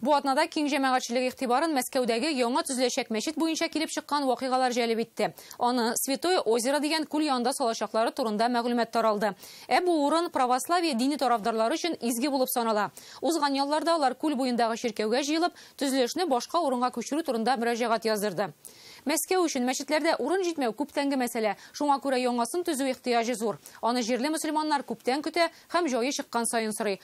Бу атнада киң җәмәгатьчелек игътибарын Мәскәүдәге яңа төзеләчәк мәчет буенча килеп чыккан вакыйгалар җәлеп итте. Аны Святое Озеро дигән күл янында салачаклары турында мәгълүмат таралды. Ә бу урын православие дине тарафдарлары өчен изге булып санала. Узган ялларда алар күл буендагы чиркәүгә җыелып, төзелешне башка урынга күчерү турында мөрәҗәгать яздырды. Мәскәү өчен мәчетләрдә урын җитмәү күптәнге мәсьәлә, шуңа күрә яңасын төзү ихтыяҗы зур. Аны җирле мөселманнар күптән көтә һәм җае чыккан саен сорый.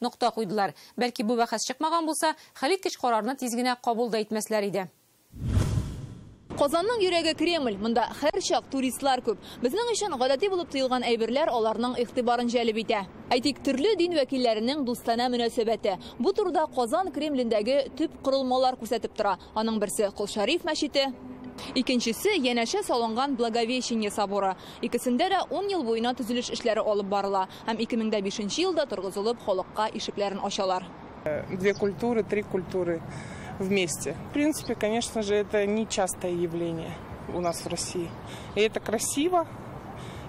Нокта куйдылар. Бәлки бу бәхәс чыкмаган булса, хәлиткеч карарны тиз генә кабул да итмәсләр иде. Казанның йөрәге Кремль, монда һәрчак туристлар күп. Безнең өчен гадәти булып тоелган әйберләр аларның игътибарын җәлеп итә. Әйтик, төрле дин вәкилләренең дустанә мөнәсәбәте. Бу турыда Казан Кремлендәге төп корылмалар күрсәтеп тора. Аның берсе, Кол Шәриф мәчете. Икенчесе, янәшә салынган Благовещение соборы. Икесендә дә ун ел буена төзелеш эшләре алып барыла. Һәм ике мең дә бишенче елда торгызылып халыкка ишекләрен ачалар. Две культуры, три культуры вместе. В принципе, конечно же, это не частое явление у нас в России. И это красиво,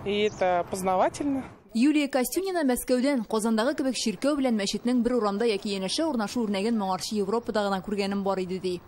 и это познавательно. Юлия Костюнина Мәскәүдән, Казандагы кебек чиркәү белән мәчетнең бер урамда яки янәшә урнашу үрнәген моңарчы Европада гына күргәнем бар иде, ди.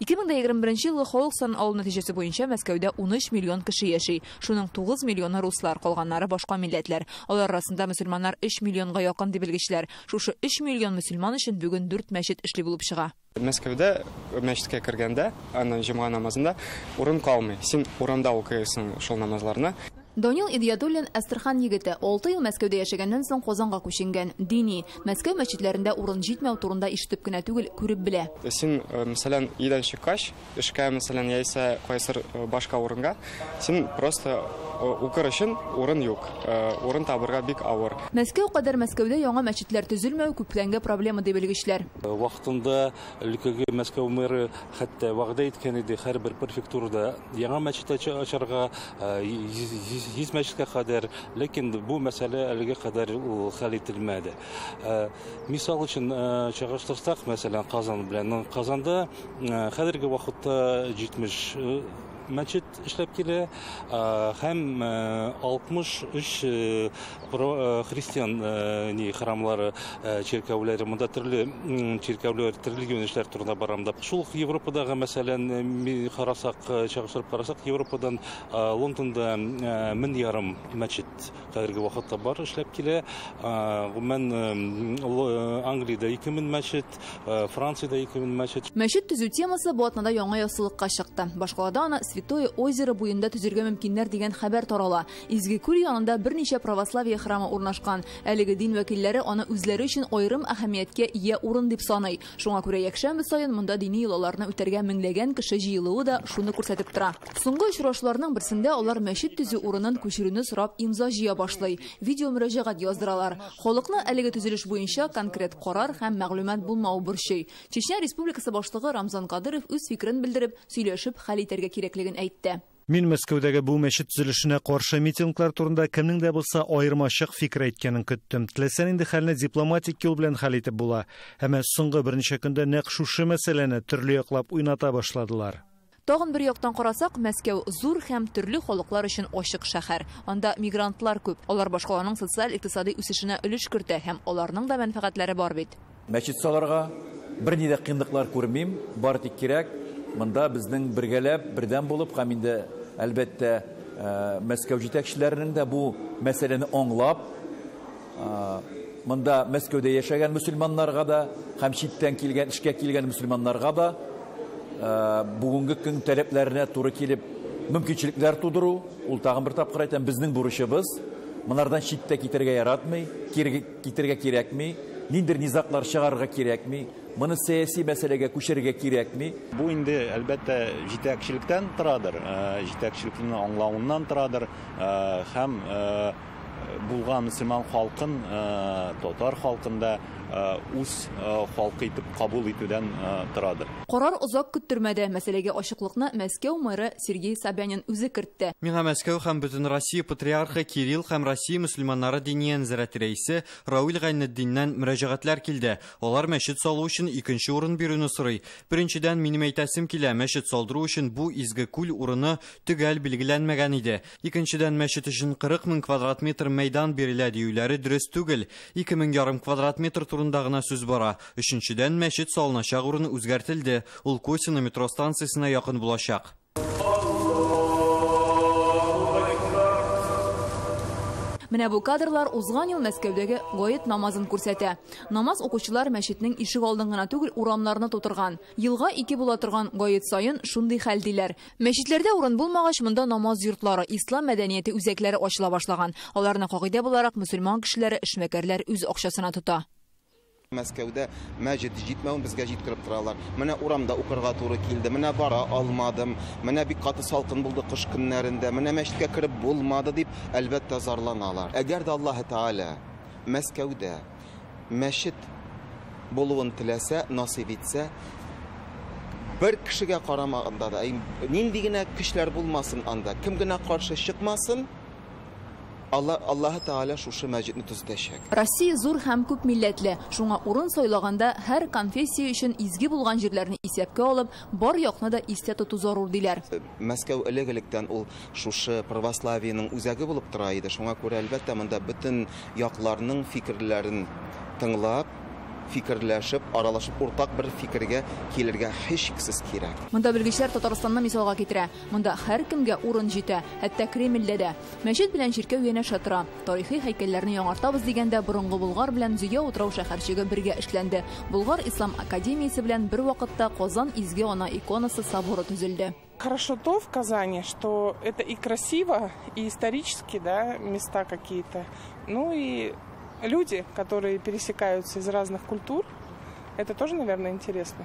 2021 елгы халык санын алу нәтиҗәсе буенча Мәскәүдә 13 миллион кеше яши. Шуның 9 миллионы руслар, калганнары башка милләтләр. Алар арасында мөселманнар 3 миллионга якын, ди белгечләр. Шушы 3 миллион мөселман өчен бүген дүрт мәчет эшли булып чыга. Мәскәүдә мәчеткә кергәндә, аны җомга намазында урын калмый. Син урамда укыйсың шул намазларны. Данил Идиятуллин, Әстерхан егете. Алты ел Мәскәүдә яшәгәннән соң Казанга күченгән. Дини. Мәскәү мәчетләрендә урын җитмәү турында ишетеп кенә түгел, күреп белә. Син, мәсәлән, өйдән чыккач, эшкә, мәсәлән, яисә кайсыр башка урынга, син просто укыр өчен урын юк. Урын табырга бик авыр. Мәскәү кадәр Мәскәүдә яңа мәчетләр төзелмәү күпләнгә проблема, ди белгечләр. Вакытында өлкәгә Мәскәү мэры хәтта вәгъдә иткән иде, һәрбер префектурада яңа мәчет ачарга. Йөз мәчеткә кадәр, ләкин бу мәсьәлә әлегә кадәр ул хәл ителмәде. Мисал өчен чагыштырсак, мәсәлән, Казан белән. Казанда хәзерге вакытта 70 мәчет эшләп килә һәм 63 христиан храмлары чиркәүләре монда төрле чиркәүләр төрле юнәлешләр турында барам да шул ук европадагы мәсәлән карасак чагыштырып карасак европадан лондонда мең ярым мәчет хәзерге вакытта бар эшләп килә гомумән англиядә ике мең мәчет франциядә ике мең мәчет мәчет төзү темасы бу атнада яңа яссылыкка чыкты башкалада аны святое озеро буенда төзергә мөмкиннәр дигән хәбәр тарала Изге күл янында берничә православие храмы урнашкан. Әлеге дин вәкилләре аны үзләре өчен аерым әһәмияткә ия урын дип саный. Шуңа күрә якшәмбе саен монда дини йолаларны үтәргә меңләгән кеше җыелуы да шуны күрсәтеп тора. Соңгы очрашуларның берсендә алар мәчет төзү урынын күчерүне сорап имза җыя башлый, видеомөрәҗәгать яздыралар. Халыкны әлеге төзелеш буенча конкрет карар һәм мәгълүмат булмавы борчый. Чечня Республикасы башлыгы Рамзан Кадыров үз фикерен белдереп, сөйләшеп хәл итәргә кирәклеген әйтте. Мин Мәскәүдәге бу мәчет төзелешенә каршы митинглар турында кемнең дә булса аермачык фикер әйткәнен көттем. Теләсә нинди хәлне дипломатик юл белән хәл итеп була. Әмма соңгы берничә көндә нәкъ шушы мәсьәләне төрле яклап уйната башладылар. Тагын бер яктан карасак, Мәскәү, зур һәм төрле халыклар өчен ачык шәһәр. Анда мигрантлар күп. Алар башкаланың социаль-икътисади үсешенә өлеш кертә һәм аларның да мәнфәгатьләре бар бит. Мәчет салырга берни дә кыенлыклар күрмим, бары тик кирәк монда безнең бергәләп, бердәм булып һәм инде, әлбәттә, Мәскәү җитәкчеләренең дә бу мәсьәләне аңлап, монда Мәскәүдә яшәгән мөселманнарга да һәм читтән килгән, эшкә килгән мөселманнарга да бүгенге көн таләпләренә туры килеп мөмкинчелекләр тудыру, ул, тагын бер тапкыр әйтәм, безнең бурычыбыз. Монардан читтә китәргә яратмый, кире, китерергә кирәкми, ниндидер низаглар чыгарырга кирәкми, моны сәяси мәсьәләгә күчерергә кирәкми. Бу инде, әлбәттә, җитәкчелектән торадыр, җитәкчелекнең аңлавыннан торадыр һәм булган мөселман халкын, татар халкын да үз халкы итеп кабул итүдән торадыр. Карар озак көттермәде, мәсьәләгә ачыклыкны Мәскәү мэры Сергей Собянин үзе кертте. үтте. Миңа Мәскәү һәм Бөтенроссия Патриархы Кирилл һәм Россия мөселманнары Диния нәзарәте рәисе Рауил Гайнетдиннән мөрәҗәгатьләр килде. Алар мәчет салу өчен икенче урын бирүне сорый. Беренчедән, минем әйтәсем килә, мәчет салдыру өчен бу изге күл урыны төгәл билгеләнмәгән иде. Икенчедән, мәчет өчен 40 мең квадрат метр мәйдан бирелә диюләре дөрес түгел. Ике мең ярым квадрат метр турында гына сүз бара. Өченчедән, мәчет салыначак урын үзгәртелде, ул Косино метро станциясенә якын булачак. Менә бу кадрлар узган ел Мәскәүдәге гает намазын күрсәтә. Намаз укучылар мәчетнең ишек алдын гына түгел, урамнарны тутырган. Елга ике була торган гает саен шундый хәл, диләр. Мәчетләрдә урын булмагач, монда намаз йортлары, ислам мәдәнияте үзәкләре ачыла башлаган. Аларны, кагыйдә буларак, мөселман кешеләре, эшмәкәрләр үз акчасына тота. Мәскәүдә мәҗет җитмәвен безгә җиткереп торалар. Менә урамда укырга туры килде, менә бара алмадым, менә бик каты салкын булды кыш көннәрендә, менә мәчеткә кереп булмады дип, әлбәттә, зарланалар. Әгәр дә Аллаһы Тәгалә Мәскәүдә мәчет булуын теләсә, насыйп итсә, бер кешегә карамаганда да, нинди генә көчләр булмасын анда, кем генә каршы чыкмасын, Алла, Аллаһы Тәгалә шушы мәчетне төзетәчәк. Россия зур һәм күп милләтле, шуңа урын сайлаганда һәр конфессия өчен изге булган җирләрне исәпкә алып, бар якны да истә тоту зарур, диләр. Мәскәү элек-электән ул шушы православиенең үзәге булып тора иде, шуңа күрә, әлбәттә, монда бөтен якларның фикерләрен тыңлап, фикерләшеп, аралашып, уртак бер фикергә килергә һичшиксез кирәк. Монда белгечләр Татарстанны мисалга китерә. Монда һәркемгә урын җитә, хәтта Кремльдә дә. Мәчет белән чиркәү янәшә тора. Тарихи һәйкәлләрне яңартабыз дигәндә, борынгы Болгар белән Зөя утрау шәһәрчеге бергә эшләнде. Болгар ислам академиясе белән бервакытта Казан Изге Ана иконасы соборы төзелде. Хорошо то в Казани, что это и красиво, и исторически, да, места какие-то, ну и люди, которые пересекаются из разных культур, это тоже, наверное, интересно.